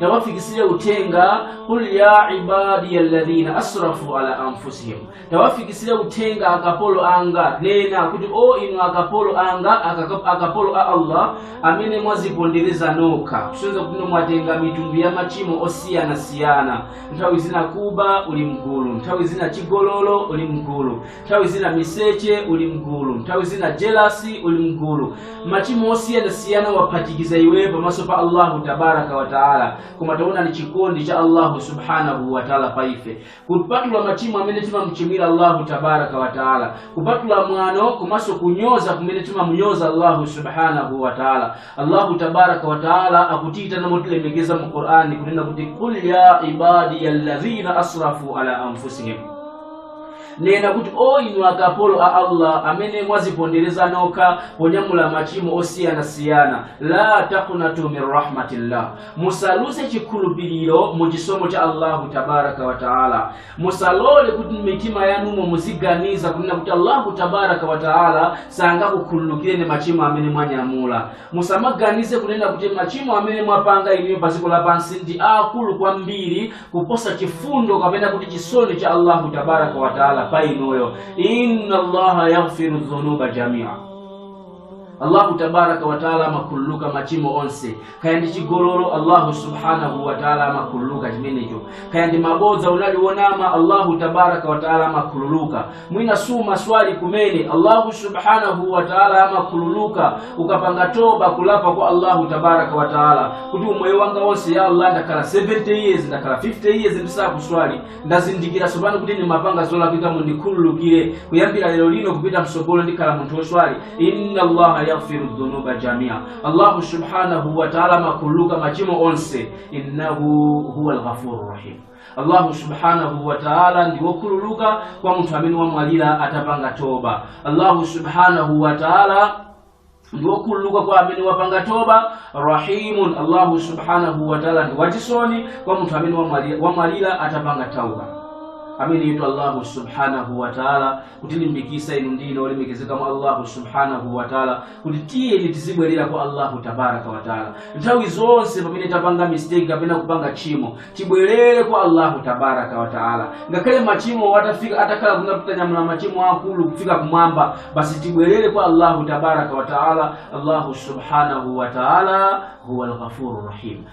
tawafikisire uthenga qul ya ibadiya alladhina asrafu ala anfusihim tawafikisire uthenga akapolo anga nena kuti o inu akapolo anga akapolo a allah amene mwazipondereza nokha kusonyeza kuti inu mwatenga mitundu ya machimo osiyanasiyana nthawi zina kuba uli mgulu nthawi zina chigololo uli mgulu nthawi zina miseche uli mgulu nthawi zina jelasi uli mgulu machimo osiyanasiyana waphatikiza iwe pamaso pa allahu tabaraka wataala koma taona ni chikondi cha allahu subhanahu wataala pa ife kupatula machimo amene timamchimwira allahu tabaraka wataala kupatula mwano komanso kunyoza kumene timamnyoza allahu subhanahu wataala allahu tabaraka wataala akutiitana motilemekeza mu qur'ani kunena kuti qul ya ibadiya alladhina asrafu ala anfusihim nena kuti o inu akapolo a allah amene mwazipondereza nokha ponyamula machimo osiyanasiyana la taqnatu min rahmatillah musaluze chikhulupiriro mu chisomo cha allahu tabaraka wataala musalole kuti mmitima yanumo muziganiza kunena kuti allahu tabaraka wataala sangakukhululukireni machimo amene mwanyamula musamaganize kunena kuti machimo amene mwapanga inuyo pa dziko lapansi ndi aakulu kwambiri kuposa chifundo kapena kuti chisoni cha allahu tabaraka wataala pa inuyo inna allaha yaghfiru dhunuba jamia allahu tabaraka wataala amakhululuka machimo onse kaya ndi chigololo allahu subhanahu wataala amakhululuka chimenecho kaya ndi mabodza unali wonama allahu tabaraka wataala amakhululuka mwina sumaswali kumene allahu subhanahu wa taala amakhululuka ukapanga toba kulapa kwa allahu tabaraka wa taala kuti umoyo wanga wonse ya allah ndakhala 70 years ndakhala 50 years ndisakuswali ndazindikira tsopano kuti ndimapanga zolakwika mundikhululukire kuyambira lero lino kupita msogolo ndikhala munthu woswali inna allaha yaghfiru dhunuba jamia allahu subhanahu wa taala amakhululuka machimo onse innahu huwa lghafuru rahim allahu subhanahu wa taala ndi wokhululuka kwa munthu amene wamwalira atapanga toba allahu subhanahu wa taala ndi wokhululuka kwa amene wapanga toba rahimun allahu subhanahu wa taala ndi wachisoni kwa munthu amene wamwali- wamwalira atapanga tauba ameneyotu allahu subhanahu wa taala kutilimbikisa inu ndine olemekezeka mwa allahu subhanahu wataala kuti tiyeni tizibwerera kwa allahu tabaraka wataala nthawi zonse pamene tapanga mistake kapena kupanga tchimo tibwerere kwa allahu tabaraka wataala ngakhale machimo atafika atakhala kungapitanyamula machimo akulu kufika kumwamba basi tibwerere kwa allahu tabaraka wataala allahu subhanahu wataala huwa lghafuru rahim